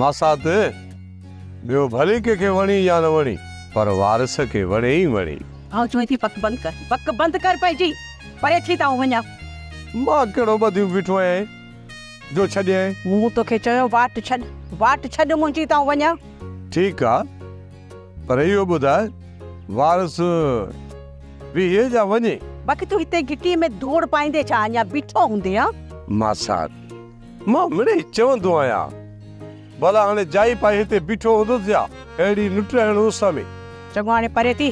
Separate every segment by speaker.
Speaker 1: ماسات، ٻيو ڀلي ڪنهن کي وڻي يا نه وڻي پر وارث کي وڻي ئي وڻي. آئون چوين ٿي پڪ
Speaker 2: بند ڪر. پڪ بند ڪر پنهنجي. پري ٿي ته آئون وڃان. مان ڪهڙو
Speaker 1: ٻڌيون بيٺو آهيان جو ڇڏيان. مون توکي چيو
Speaker 2: واٽ ڇڏ. واٽ ڇڏ منهنجي ته آئون وڃان. ٺيڪ آ
Speaker 1: پر اهو ٻڌاء وارث بيهي يا وڃي. باقي تون هتي گهٽيء
Speaker 2: ۾ ڌوڙ پائيندي ڇا اڃا بيٺو هوندين ها. ماسات،
Speaker 1: مان مڙئي چوندو آهيان، ڀلا هاڻي جائي پائي هتي بيٺو هوندس يا اهڙي نٽرائڻ اس ۾. چڱو هاڻي پري
Speaker 2: ٿي.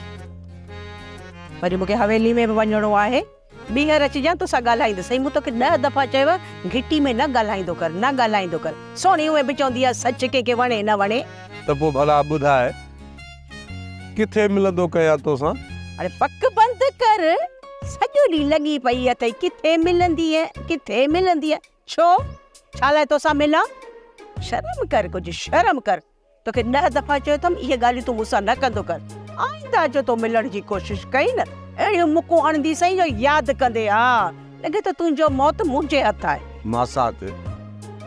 Speaker 2: وري مون کي حويلي ۾ به وڃڻو آهي. ٻيهر اچجان تو سان ڳالهائيندس. سائين مون توکي ڏهه دفعا چيو آهي گهٽي ۾ نه ڳالهائيندو ڪر، نه ڳالهائيندو ڪر. سهڻي اونئين به چوندي آهي سچ ڪنهن کي وڻي نه وڻي. ته پوء ڀلا
Speaker 1: ٻڌاء ڪٿي ملندو ڪيان توسان. هاڻي پڪ
Speaker 2: بند ڪر. سڄو ڏينهن لڳي پئي اٿئي ڪٿي ملنديء ڪٿي ملنديء ڇو ڇا لاء توسان ملان شرم ڪر ڪجهه شرم ڪر توکي ڏهه دفعا چيو اٿم اهي ڳالهيون تون مون سان نه ڪندو ڪر آئنده جو تو ملڻ جي ڪوشش ڪئي نه اهڙيون مڪون اڻندي سائين جو ياد ڪندي ها لڳي ٿو تنهنجو موت منهنجي هٿ آهي. ماسات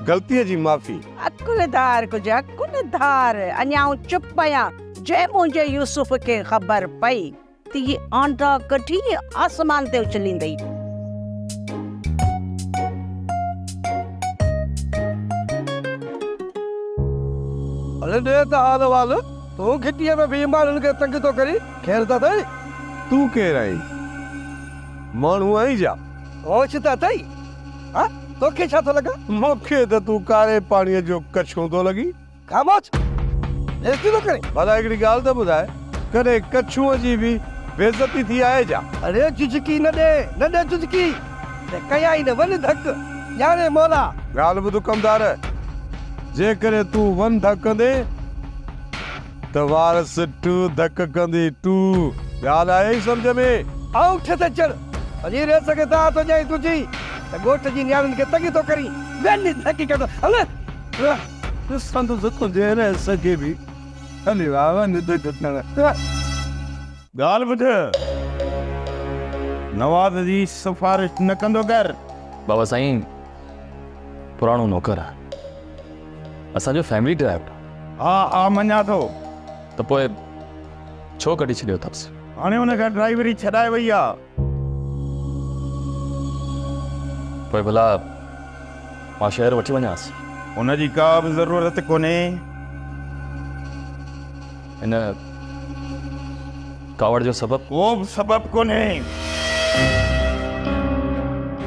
Speaker 1: غلطيء جي معافي. عقل ڌار ڪجهه عقل
Speaker 2: ڌار اڃا آئون چپ آهيان جنهن منهنجي يوسف کي خبر پئي. تي آنڊا ڪڍي آسمان تي اڇليندئي.
Speaker 3: اڙي ڏي ته حال احوال، تون گهٽيء ۾ بيهي ماڻهن کي تنگ ٿو ڪرين، خير ته اٿئي؟ تون ڪير
Speaker 1: آهين؟ ماڻهو آهين ڇا؟ هوش ته اٿئي؟
Speaker 3: هان، توکي ڇا ٿو لڳان؟ مون کي ته تون
Speaker 1: ڪاري پاڻيء جو ڪڇون ٿو لڳين. خاموش!
Speaker 3: بيعزتي ٿو ڪرين؟ ڀلا هڪڙي ڳالهه ته ٻڌاء،
Speaker 1: ڪڏهن ڪڇوء جي به بيعزتي ٿي آهي ڇا؟ اڙي جهجڪي نه
Speaker 3: ڏي، نه ڏي جهجڪي. ته ڪيائين نه ون ڌڪ، ڄاڻي مولا. ڳالهه ٻڌ ڪمدار،
Speaker 1: جيڪڏهن تون ون ڌڪ ڪندين ته وارث ٽو ڌڪ ڪندي، ٽو. ڳالهه آيئي سمجهه ۾؟ آئون ٺس اچڻ
Speaker 3: وڃي ريس کي دانهن ٿو ڏيان ۽ تنهنجي ته ڳوٺ جي نياڻين کي تنگ ٿو ڪرين. ون ڌڪ ڪندو هلان.
Speaker 1: ڏسندو ته تنهنجي رئيس کي به هلي ويا هئا ننڊ گهٽڻ. ڳالهه ٻڌ. نواز جي سفارش نه ڪندو ڪر. بابا سائين
Speaker 4: پراڻو نوڪر آ اسان جو فيملي ڊرائيور. ها ها مڃان
Speaker 1: ٿو. ته پوء
Speaker 4: ڇو ڪڍي ڇڏيو اٿس. هاڻي ان کان ڊرائيوري
Speaker 1: ڇڏائي وئي آ.
Speaker 4: پوء ڀلا مان شهر وٺي وڃانس؟ ان جي ڪا به
Speaker 1: ضرورت ڪونهي.
Speaker 4: ان ڪاوڙ جو سبب؟ ڪو به سبب ڪونهي.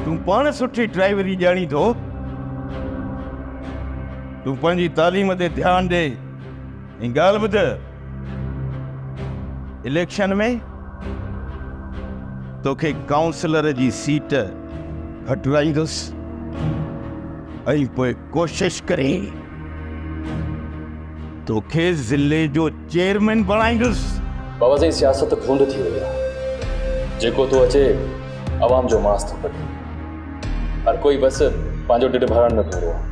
Speaker 1: تون پاڻ سٺي ڊرائيوري ڄاڻين ٿو. تون پنهنجي تعليم تي ڌيان ڏي ۽ ڳالهه ٻڌ. اليڪشن ۾ توکي ڪائونسلر جي سيٽ گهٽرائيندس ۽ پوء ڪوشش ڪري توکي ضلعي جو چيئرمين بڻائيندس بابا سائين سياست
Speaker 4: ڀونڊ ٿي وئي آهي جيڪو ٿو اچي عوام جو ماس ٿو ڪڍي هر ڪوئي بس پنهنجو ڊيڍ ڀرڻ ۾ پورو آهي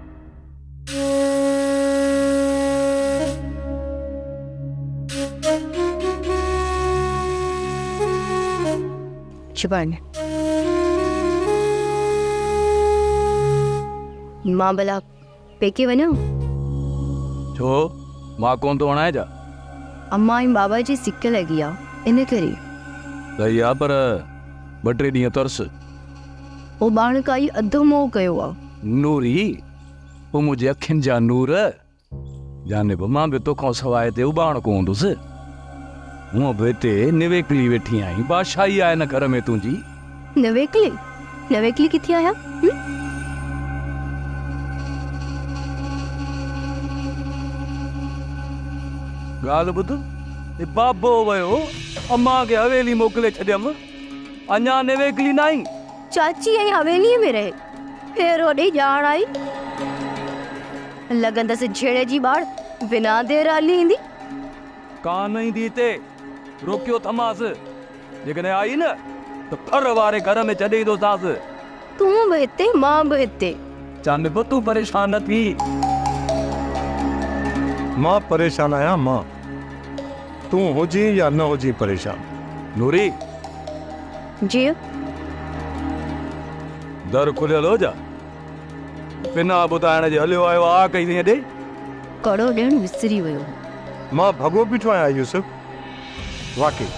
Speaker 2: شبان،
Speaker 5: مان ڀلا پيڪي وڃان؟
Speaker 6: ڇو؟ مان ڪونه ٿو وڻان ڇا؟ امان ۽
Speaker 5: بابا جي سڪ لڳي آ ان ڪري. لڳي آ
Speaker 6: پر ٻه ٽي ڏينهن ترس.
Speaker 5: اوٻاڻڪائي اڌ موهه ڪيو آ. نوري!
Speaker 6: او منهنجي اکين جا نور! جانب مان به توکان سواء هتي اوٻاڻڪو هوندس؟ هونء به هتي نويڪلي ويٺي آهين، بادشاهي آهي نه گهر ۾ تنهنجي. نويڪلي؟ نويڪلي
Speaker 5: ڪٿي آهيان؟ هون؟
Speaker 6: ڳالهه ٻڌ، هي بابو ويو، امان کي حويلي موڪلي ڇڏيم. اڃا نيويڪلي نه آئين؟ چاچي ۽
Speaker 5: حويليء ۾ رهي، پير هوڏي ڄاڻ آئي. لڳندس جهيڙي جي ٻاڙ، بنا دير هلي ايندي. ڪانه
Speaker 6: ايندي هتي، روڪيو ٿمانس. جيڪڏهن آئي نه ته ڦر واري گهر ۾ ڇڏي ايندوسانس. تون به
Speaker 5: هتي مان به هتي. چاند به تون
Speaker 6: پريشان نه ٿي.
Speaker 1: مان پريشان آهيان مان. تون هجين يا نه هجين پريشان. نوري!
Speaker 5: جيء!
Speaker 6: در کليل هو جا؟ بنا ٻڌائڻ جي هليو آيو آء ڪئي سين ڏي. ڪڙو
Speaker 5: ڏيڻ وسري ويو هو. مان ڀڳو
Speaker 1: بيٺو آهيان يوسف. واقعي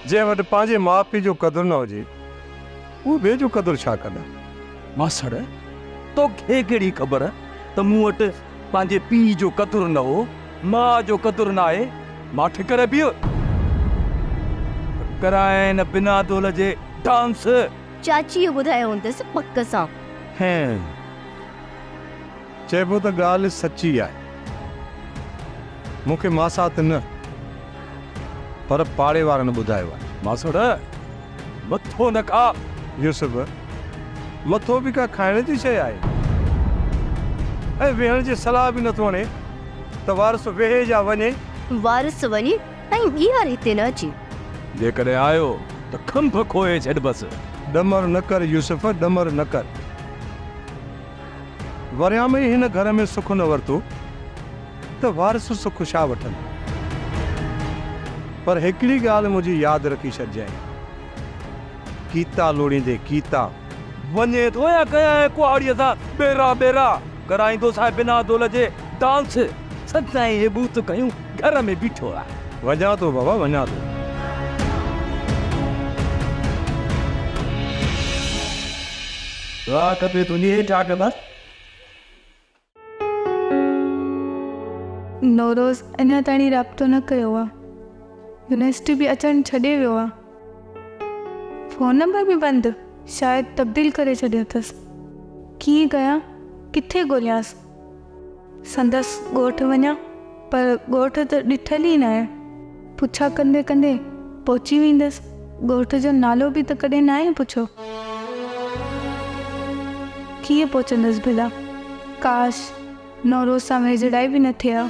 Speaker 1: جنهن وٽ پنهنجي ماء پيء جو قدر نه هجي. اهي به جو قدر ڇا ڪندا. ماسڙ،
Speaker 6: توکي ڪهڙي خبر ته مون وٽ پنهنجي پيء جو قدر نه هو، ماء جو قدر ناهي، مان ٺڪر بيهه ته ڪرائين بنا دول جي ڊانس. چاچيء
Speaker 5: ٻڌايو هوندس پڪ سان. هيء
Speaker 1: چئبو ته ڳالهه سچي آهي. مون کي ماسات نه پر پاڙي وارن ٻڌايو آهي. ماسڙ!
Speaker 6: مٿو نه کا. يوسف!
Speaker 1: مٿو به ڪا کائڻ جي شيء آهي؟ ۽ ويهڻ جي صلاح به نٿو هڻي ته وارث ويهي يا وڃي. وارث وڃي
Speaker 5: ۽ ٻيهر هتي نه اچي. جيڪڏهن آيو
Speaker 6: ته کنڀ کوهي ڇڏبس. ڏمر نه ڪر
Speaker 1: يوسف، ڏمر نه ڪر. وريان ۾ هن گهر ۾ سک نه ورتو ته وارث سک ڇا وٺن. پر هڪڙي ڳالهه منهنجي ياد رکي ڇڏجانء. ڪيتا لوڙيندي ڪيتا. وڃي ٿو
Speaker 6: يا ڪنهن ڪهاڙيء سان ٻيرا ٻيرا ڪرائيندوس ۽ بنا دول جي ڊانس سدائين هي ٻوٿ کنيون گهر ۾ بيٺو آهي. وڃان ٿو بابا
Speaker 1: وڃان ٿو.
Speaker 6: دعا کپي تنهنجي اي ٽاٽ بس.
Speaker 7: نوروز اڃا تائين رابطو نه ڪيو آ. يونيورسٽي به اچڻ ڇڏي ويو آ. فون نمبر به بند، شايد تبديل ڪري ڇڏيو اٿس. ڪيئن ڪيان، ڪٿي ڳوليانس. سندس ڳوٺ وڃان، پر ڳوٺ ته ڏٺل ئي ناهي. پڇا ڪندي ڪندي پهچي ويندس. ڳوٺ جو نالو به ته ڪڏهن ناهي پڇيو. ڪيئن پهچندس ڀلا؟ ڪاش! نوروز سان ويجهڙائي به نه ٿئي ها.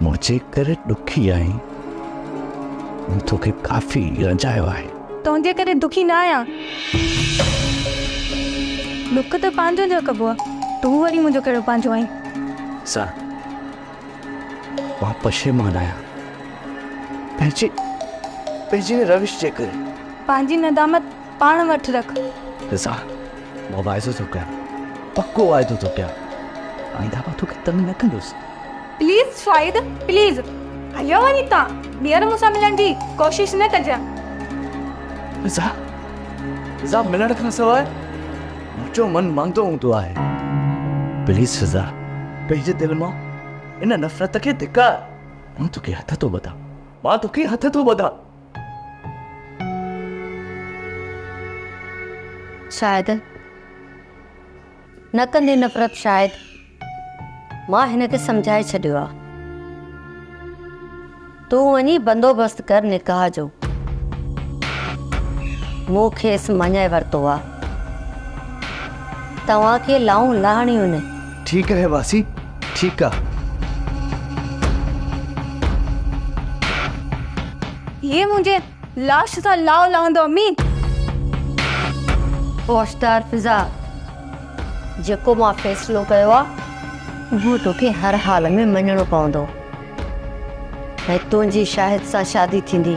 Speaker 8: منهنجي ڪري ڏکي آهين. مون توکي ڪافي رنجايو آهي. تنهنجي ڪري دکي
Speaker 7: نه آهيان. ڏک ته پنهنجن جا ڪبو آهي. تون وري منهنجو ڪهڙو پنهنجو آهين. سا،
Speaker 8: مان پشيمان آهيان. پنهنجي، پنهنجي ان روش جي ڪري. پنهنجي ندامت
Speaker 7: پاڻ وٽ رک. سا،
Speaker 8: مان واعدو ٿو ڪيان. پڪو واعدو ٿو ڪيان. آئنده مان توکي تنگ نه ڪندس. پليز
Speaker 7: شاهد پليز هليو وڃي تان ٻيهر مون سان ملڻ جي ڪوشش نه ڪجان. رضا
Speaker 8: رضا ملڻ کان سواء منهنجو من ماندو هوندو آهي پليز رضا پنهنجي دل مان ان نفرت کي ڌڪار مان توکي هٿ ٿو ٻڌان مان توکي هٿ ٿو ٻڌان.
Speaker 5: شاهد. نه ڪندي نفرت شايد مان هن کي سمجهائي ڇڏيو آ. تون وڃي بندوبست ڪر نڪاح جو. مون کيس مڃائي ورتو آ. توهان کي لائون لاهڻيون نه. ٺيڪ آهي واسي
Speaker 8: ٺيڪ آ. هيء
Speaker 7: منهنجي. لاش سان لاء لهندو امين.
Speaker 5: هوشدار فضا جيڪو مان فيصلو ڪيو آ اهو توکي هر حال ۾ مڃڻو پوندو ۽ تنهنجي شاهد سان شادي ٿيندي.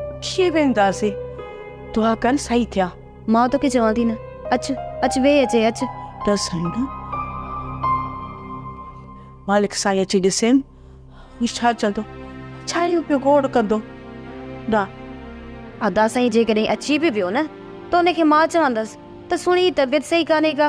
Speaker 2: اچي ويهنداسين. دعا ڪر سائين ٿيا. مان توکي چوان
Speaker 5: ٿي نه. اچ، اچ ويهه اچي اچ. نه سائين نه.
Speaker 2: مالڪ سائين اچي ڏسين. هي ڇا چوندو؟ ڇا اهو پيو گوڙ ڪندو؟ نه.
Speaker 5: ادا سائين جيڪڏهن اچي به ويو نه ته ان کي مان چوندس ته سهڻي طبيعت صحيح ڪانهي ڪا.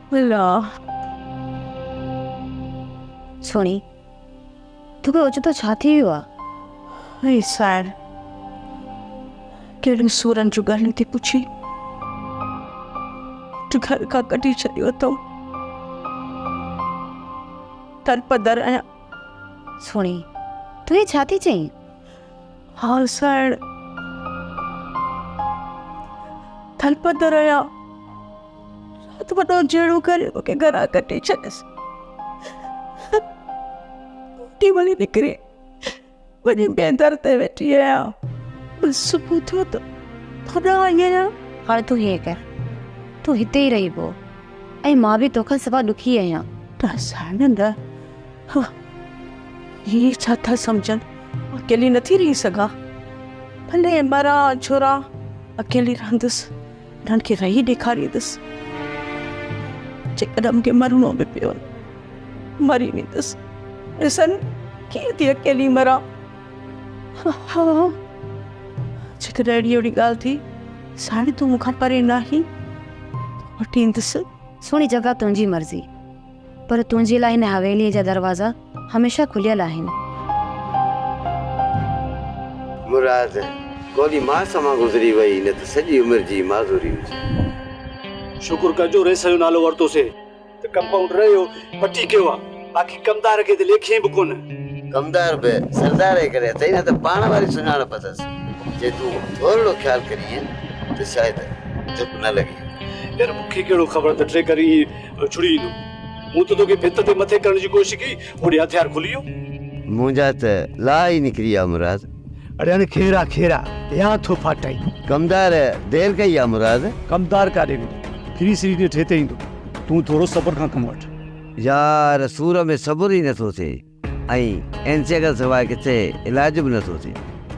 Speaker 5: الله. سهڻي، تون به اوچتو ڇا ٿي ويو آ؟ اي سائڻ،
Speaker 2: ڪهڙن سورن جون ڳالهيون ٿي پڇين، جو گهر کان ڪڍي ڇڏيو اٿئون. در پدر آهيان. سهڻي،
Speaker 5: تون هي ڇا ٿي چئين؟
Speaker 2: هانسائڻ ٿلپت رهيا. رات وڏو جهيڙو ڪري مون کي گهران ڪڍي ڇڏيس. ٽي ولي نڪري وڃي ٻئي در تي ويٺي آهيان بس صبح ٿيو ته هوڏانهن آئي آهيان هاڻي تون هيئن ڪر
Speaker 5: تون هتي ئي رهي پو ۽ مان به توکان سوا ڏکي آهيان. ته سائڻ
Speaker 2: نه ها هي ڇا ٿا سمجهن اڪيلي نٿي رهي سگهان ڀلي مران جهران اڪيلي رهندس انهن کي رهي ڏيکاريندس جيڪڏهن مون کي مرڻو به پيو مري ويندس ڏسن ڪيئن ٿي اڪيلي مران ها جيڪڏهن اهڙي اهڙي ڳالهه ٿي ساڻي تون مون کان پري ناهي وٺيندس سهڻي جڳا
Speaker 5: تنهنجي مرضي پر تنهنجي لاء هن حويليء جا دروازا هميشه کليل آهن.
Speaker 9: مراد، ڪوڏي ماس مان گذري وئي نه ته سڄي عمر جي معذوري هجي.
Speaker 10: شڪر ڪر جو رئيس جو نالو ورتو سي ته ڪمپائونڊر اهو پٽي ڪيو آ باقي ڪمدار کي ته ليکيين به ڪونه. ڪمدار به
Speaker 9: سردار ئي ڪري اٿئي نه ته پاڻ واري سڃاڻپ اٿس. جي تون ٿورڙو خيال ڪرينء ته شايد ڌڪ نه لڳي. يار مون کي
Speaker 10: ڪهڙو خبر ته ٽريڪر ايئن اڇڙي ايندو. مون ته توکي ڀت تي مٿي ڪرڻ جي ڪوشش ڪئي، هوڏي هٿيار کلي ويو. منهنجا ته
Speaker 9: لاء ئي نڪري ويا مراد. اڙي هاڻي کيرا
Speaker 10: کيرا يا ٿو ڦاٽائين. ڪمدار
Speaker 9: دير ڪئي يا مراد. ڪمدار ڪاڏي ويندو.
Speaker 10: ڦري سري ڏينهن ٺيتي ايندو. تون ٿورو صبر کان ڪم وٺ. يار
Speaker 9: سور ۾ صبر ئي نٿو ٿئي. ۽ انسيء کان سواء ڪٿي علاج به نه ٿو ٿئي.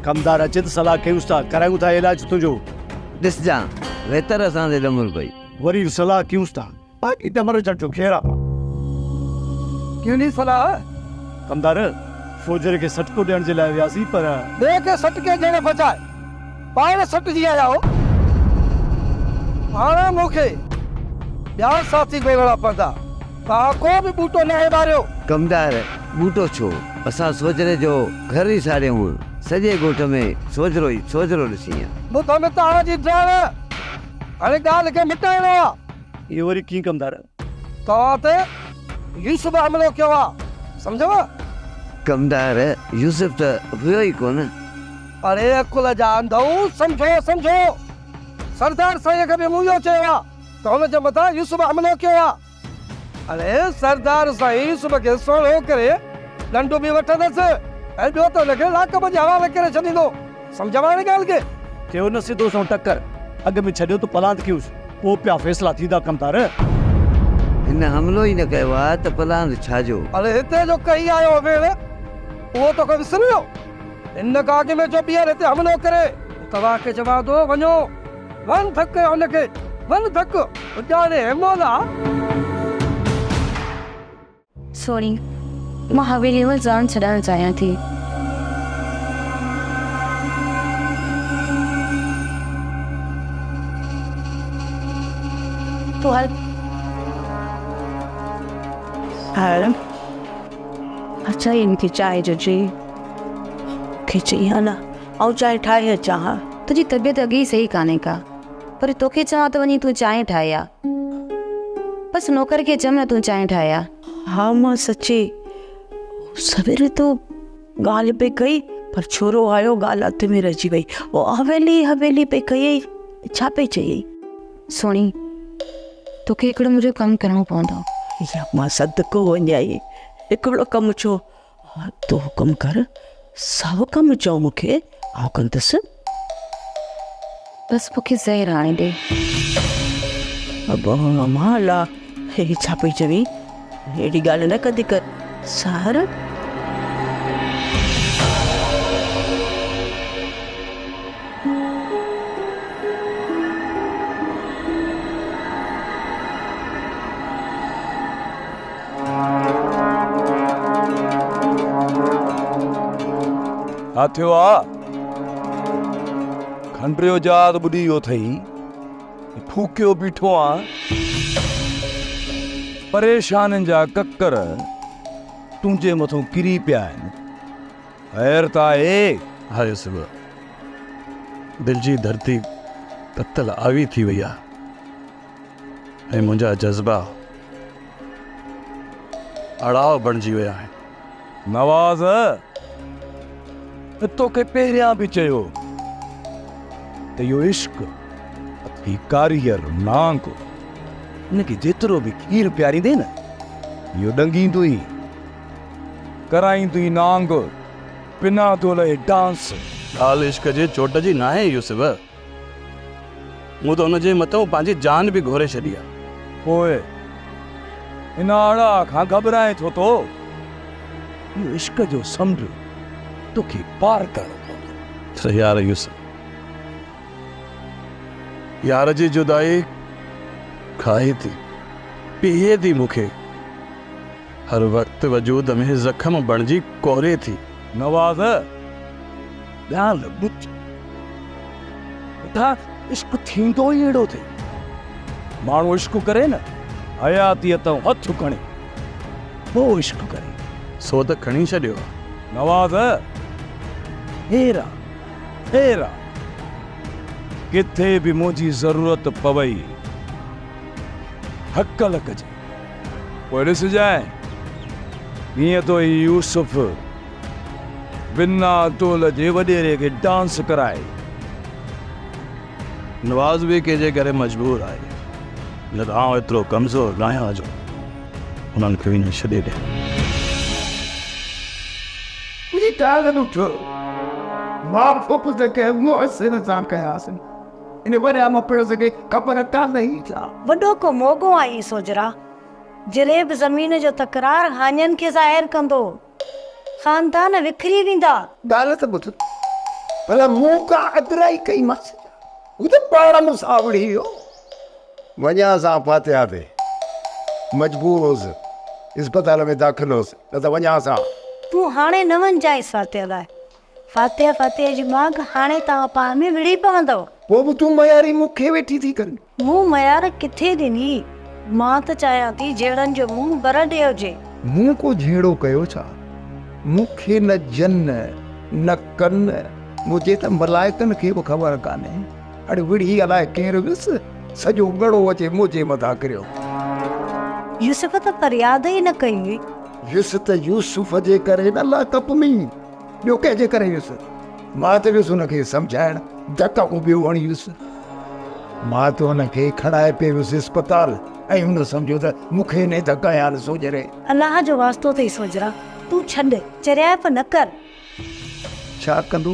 Speaker 9: ڪمدار اچي ته
Speaker 10: صلاح ڪيونس ٿا، ڪرايون ٿا علاج تنهنجو. ڏسجان
Speaker 9: ويتر اسان تي ڏمر پئي. وري صلاح
Speaker 10: ڪيونس ٿا، باقي ڏمر اچڻ جو خير آ. ڪيوني
Speaker 3: صلاح. ڪمدار،
Speaker 10: فوجيري کي سٽڪو ڏيڻ جي لاء وياسين، پر. ٻئي کي سٽڪي
Speaker 3: ڏيڻ بجاء. پاڻ سٽجي آيا هو. هاڻ مون کي ٻيا ساٿي ڳولڻا پوندا. توهان ڪو به ٻوٽو ناهي ٻاريو. ڪمدار،
Speaker 9: ٻوٽو ڇو؟ اسان سوجهري جو گهر ئي ساڙيو هئن. سڄي ڳوٺ ۾ سوجهرو ئي سوجهرو ڏسينء. ٻڌو نه توهان
Speaker 3: جي ڊاهڻ. هاڻي ڳالهه کي مٽائڻو آ. اهو وري ڪيئن
Speaker 10: ڪمدار؟ توهان تي
Speaker 3: يوسف به حملو ڪيو آ، سمجهيو؟
Speaker 9: ڪمدار، يوسف ته هيو ئي ڪونه. اڙي
Speaker 3: عقل جا انڌئو، سمجهو، سمجهو! سردار سائينء کي به مون اهو چيو آ ته هن جي مٿان يوسف حملو ڪيو آ. اڙي سردار سائين يوسف کي سوڙهو ڪري ڏنڊ به وٺندس ۽ ٻيو ته هن کي لاڪ ۾ جي حوالي ڪري ڇڏيندو. سمجهيو هاڻي ڳالهه کي. ٿيو نه سڌو سنئون
Speaker 10: ٽڪر. اڳ ۾ ڇڏيو ته پلاند ڪيوس. پوء پيا فيصلا ٿيندا ڪمتار.
Speaker 9: هن حملو ئي نه ڪيو آ ته پلاند ڇا جو. هلي هتي جو
Speaker 3: ڪهي آيو هوين. اهو توکي وسري ويو. هن گاگي ۾ جو ٻيهر هتي حملو ڪري. توهان کي چوان ٿو وڃو. ون ڌڪ ڪيو هن کي. ون ڌڪ. اڄاڻي هيمولا.
Speaker 11: سهڻي، مان حويليء ۾ جان ڇڏڻ چاهيان ٿي. تون هل. هل.
Speaker 2: مان چاهيان ٿي چانهه جو جي کي چئي ها نه، آئون چانهه ٺاهي اچان ها. تنهنجي طبيعت اڳي ئي
Speaker 11: صحيح ڪانهي ڪا. پر توکي چوان ته وڃي تون چانهه ٺاهي آ. بس نوڪر کي چيم نه تون چانهه ٺاهي آ. ها مان سچي
Speaker 2: سويري تو ڳالهه پئي ڪئي پر ڇورو آيو ڳالهه اڌ ۾ رهجي وئي. او حويلي حويلي پئي ڪيئي ڇا پئي چئي؟ سهڻي
Speaker 11: توکي هڪڙو منهنجو ڪم ڪرڻو پوندو. ها مان
Speaker 2: صدقو وڃائي هڪڙو ڪم ڇو؟ تون حڪم ڪر، ساهو ڪم چئو مون کي، آئون ڪندس.
Speaker 11: بس مون کي زهر هڻي ڏي. ابا
Speaker 2: امان الله، هي ڇا پئي چوين؟ اهڙي ڳالهه نه ڪندي ڪر. سحر.
Speaker 1: ڇا ٿيو آ؟ کنڊريو جهاز ٻڏي ويو اٿئي. ڦوڪيو بيٺو آن. پريشانين جا ڪڪر تنهنجي مٿو ڪري پيا آهن. خير ته آهي؟ ها يوسف،
Speaker 10: دل جي ڌرتي تتل آوي ٿي وئي آ. ۽ منهنجا جذبا اڙاء بڻجي ويا آهن. نواز،
Speaker 1: مون توکي پهريان به چيو ته اهو عشق اٿي ڪاريگر نانگ ان کي جيترو به کير پياريندين اهو ڏنگيندو ئي ڪرائيندو ئي نانگ بنا دولهي ڊانس. ڳالهه عشق
Speaker 10: جي چوٽ جي ناهي يوسف. مون ته ان جي مٿئون پنهنجي جان به گهوري ڇڏي آ. پوء
Speaker 1: ان آڙاء کان گهٻرائين ٿو تو؟ اهو عشق جو سمنڊ توکي پار ڪرڻو پوندو. ته يار يوسف!
Speaker 10: يار جي جدائي کائي ٿي پيهي ٿي مون کي، هر وقت وجود ۾ زخم بڻجي ڪوري ٿي. نواز!
Speaker 1: ڳالهه ٻڌ، ٻڌا عشق ٿيندو ئي اهڙو ٿي. ماڻهو عشق ڪري نه حياتيء تئون هٿ کڻي پوء عشق ڪري. سو ته کڻي ڇڏيو
Speaker 10: آ. نواز!
Speaker 1: خير آ، خير آ. ڪٿي به منهنجي ضرورت پوئي، هڪل ڪجانء. پوء ڏسجانء، ڪيئن تو هي يوسف. بنا ٽول جي وڏيري کي ڊانس ڪرائي.
Speaker 10: نواز به ڪنهنجي ڪري مجبور آهي، نه ته آئون ايترو ڪمزور ناهيان جو انهن کي ائين ڇڏي ڏيان.
Speaker 3: ڪجهه ٽال به ٿيو، ماء پوء ته ڪنهن مؤثر سان ڪياسين. ان وڏا مفلس کي خبر ڪانه هئي ڇا؟ وڏو ڪو موڳو
Speaker 5: آهين سوجهرا. جريب زمين جو تڪرار هاڃن کي ظاهر ڪندو. خاندان وکري ويندا. ڳالهه ته ٻڌ،
Speaker 3: ڀلا مون ڪا اڳرائي ڪئيمانس ڇا؟ هو ته پاڻ مون سان اوڙي ويو.
Speaker 12: وڃانس آء فاتحه تي. مجبور هوس. اسپتال ۾ داخل هوس، نه ته وڃانس آء. تون هاڻي نه
Speaker 5: وڃجانءس فاتحه لاء. فاتح فاتح جي ماڳ هاڻي توهان پاڻ ۾ وڙهي پوندؤ. پوء به تون مياري
Speaker 12: مون کي ويٺي ٿي ڪرين. مون ميار
Speaker 5: ڪٿي ڏني. مان ته چاهيان ٿي جهيڙن جو منهن بره ڏي هجي. مون ڪو جهيڙو
Speaker 12: ڪيو ڇا؟ مون کي نه جن نه ڪن منهنجي ته ملائڪن کي به خبر ڪانهي. هڙ وڙهي الاء ڪير ويس سڄو ڳڙو اچي منهنجي مٿان ڪريو.
Speaker 5: يوسف ته فرياد ئي نه ڪئي هئي. ويس ته
Speaker 12: يوسف جي ڪري نه لاڪپ ۾. ٻيو ڪنهن جي ڪري ويس. مان ته ويس هن کي سمجهائڻ، ڌڪ اڳو ٻيو هڻي ويس. مان ته هن کي کڻائي پئي ويس اسپتال ۽ هن سمجهيو ته مون کي هن ئي ڌڪ هنيا آهن سوجهري. الله جو واسطو
Speaker 5: اٿئي سوجهرا، تون ڇڏ، چريائپ نه ڪر.
Speaker 12: ڇا ڪندو؟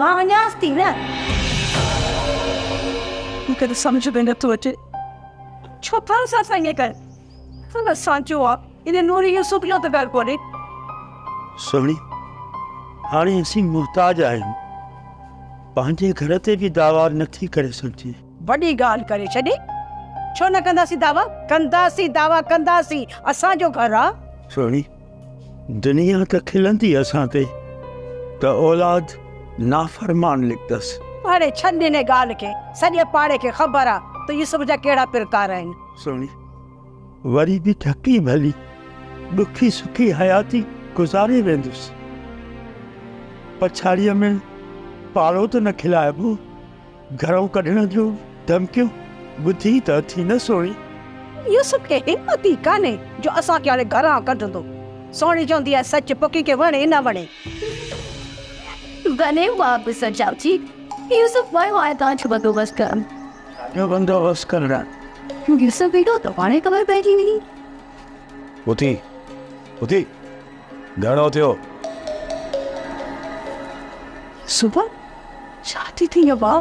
Speaker 12: مان
Speaker 5: وڃانس ٿي نه.
Speaker 2: مون کي ته سمجهه ۾ نه ٿو اچي ڇو ٿا اسان سان ائين ڪن. سندس سانچو آ ان نوري يوسف جو ته گهر ڪونهي.
Speaker 13: سهڻي هاڻي اسين محتاج آهيون پنهنجي گهر تي به دعويٰ نه ٿي ڪري سگهجي. وڏي ڳالهه ڪري
Speaker 2: ڇڏي ڇو نه ڪنداسين دعويٰ. ڪنداسين دعويٰ ڪنداسين اسان جو گهر آ. سهڻي
Speaker 13: دنيا ته کلندي اسان تي ته اولاد نافرمان لکندس. هاڻي ڇڏ انهي
Speaker 2: ڳالهه کي، سڄي پاڙي کي خبر آ ته يوسف جا ڪهڙا پرڪار آهن. سهڻي
Speaker 13: وري به ڍڪي ڀلي ڏکي سکي حياتي گذاري ويندس. پڇاڙيء ۾ پاڙو ته نه کلائبو. گهرون ڪڍڻ جون ڌمڪيون ٻڌي ته اٿي نه سهڻي. يوسف کي
Speaker 2: همت ئي ڪانهي جو اسان کي هاڻي گهران ڪڍندو. سهڻي چوندي آهي سچ پوء ڪنهن کي وڻي نه وڻي.
Speaker 5: وڃي مان به سوچيان ٿي. يوسف ويو آهي تان جو بندوبست ڪرڻ. ڇا جو بندوبست
Speaker 13: ڪرڻ؟ يوسف
Speaker 5: ايندو ته پاڻهي خبر پئجي ويندي.
Speaker 1: اٿي اٿي. گهڻو ٿيو.
Speaker 2: صبح ڇا ٿي ٿئي ابا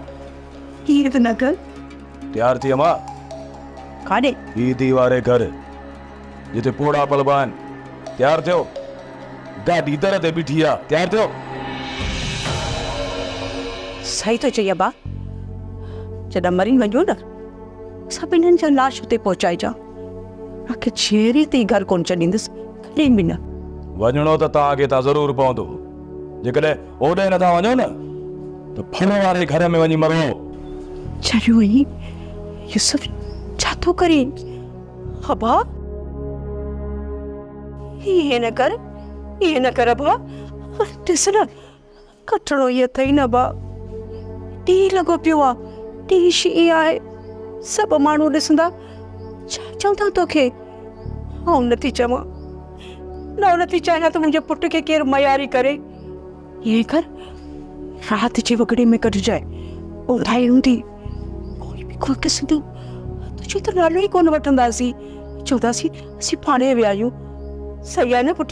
Speaker 2: ائين ته نه ڪر. تيار ٿي
Speaker 1: اما. ڪاڏي؟
Speaker 2: ٻي ڌي واري
Speaker 1: گهر جتي پوڙها پلبا آهن. تيار ٿيو. گاڏي در تي بيٺي آ. تيار ٿيو.
Speaker 2: صحيح ٿو چئي ابا. جڏهن مري وڃون نه اسان ٻنهين جا لاش اتي پهچائجان. آکي جيرين تائين گهر ڪونه ڇڏيندس ڪڏهن به نه. وڃڻو ته
Speaker 1: توهان کي اتان ضرور پوندو. جيڪڏهن اوڏي نٿا وڃو نه ته ڦڙ واري گهر ۾ وڃي مرو. چريو
Speaker 2: هي يوسف ڇا ٿو ڪرين ابا. ائين نه ڪر ائين نه ڪر ابا ڏس نه ڪٽڻو ئي اٿئي نه ڀاء. ٽيهه لڳو پيو آ. ٽيهه شينهن آهي. سڀ ماڻهو ڏسندا. ڇا چوندا توکي؟ آئون نٿي چوان. نه آئون نٿي چاهيان ته منهنجي پٽ کي ڪير مياري ڪري. ائين ڪر رات جي وڳڙي ۾ ڪڍجانء. اونداهي هوندي. ڪوئي به ڪونه ڏسندو. تنهنجو ته نالو ئي ڪونه وٺنداسين. چونداسين اسين پاڻهي ويا آهيون. صحيح آهي نه پٽ؟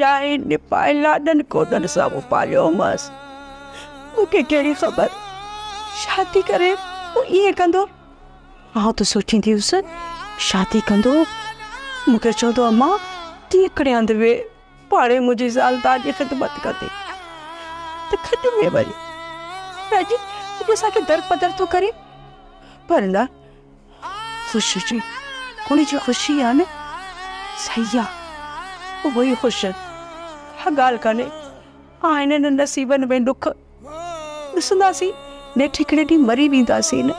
Speaker 2: ڄائين نپائي لاڏن ڪوڏن سان مون پاليومس. مون کي ڪهڙي خبر شادي ڪري هو ائين ڪندو. آئون ته سوچيندي هيس شادي ڪندو مون کي چوندو امان تون هڪڙي هنڌ ويهه پاڻهي منهنجي زال دار جي خدمت ڪندي ته کٽ ۾ ويهه رهجي اڄ اسان کي درپدر ٿو ڪري پر نه خوش هجي ان جي خوشي آ نه صحيح آ اهو ئي خوش ڪا ڳالهه ڪانهي آهن هن نصيبن ۾ ڏک ڏسنداسين نيٺ هڪڙي ڏينهن مري وينداسين نه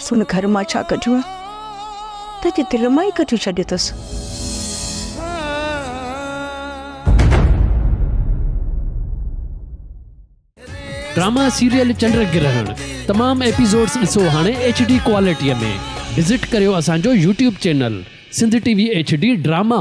Speaker 2: سن گهر مان ڇا ڪڍيون ته جي دل مان ئي ڪڍيون ڇڏيو اٿس
Speaker 14: ڊراما سيريل چنڊ گرهڻ تمام ايپيسوڊز ڏسو هاڻي ايڇ ڊي ڪوالٽيء ۾ وزٽ ڪريو اسان جو YouTube channel Sindh T V H D drama.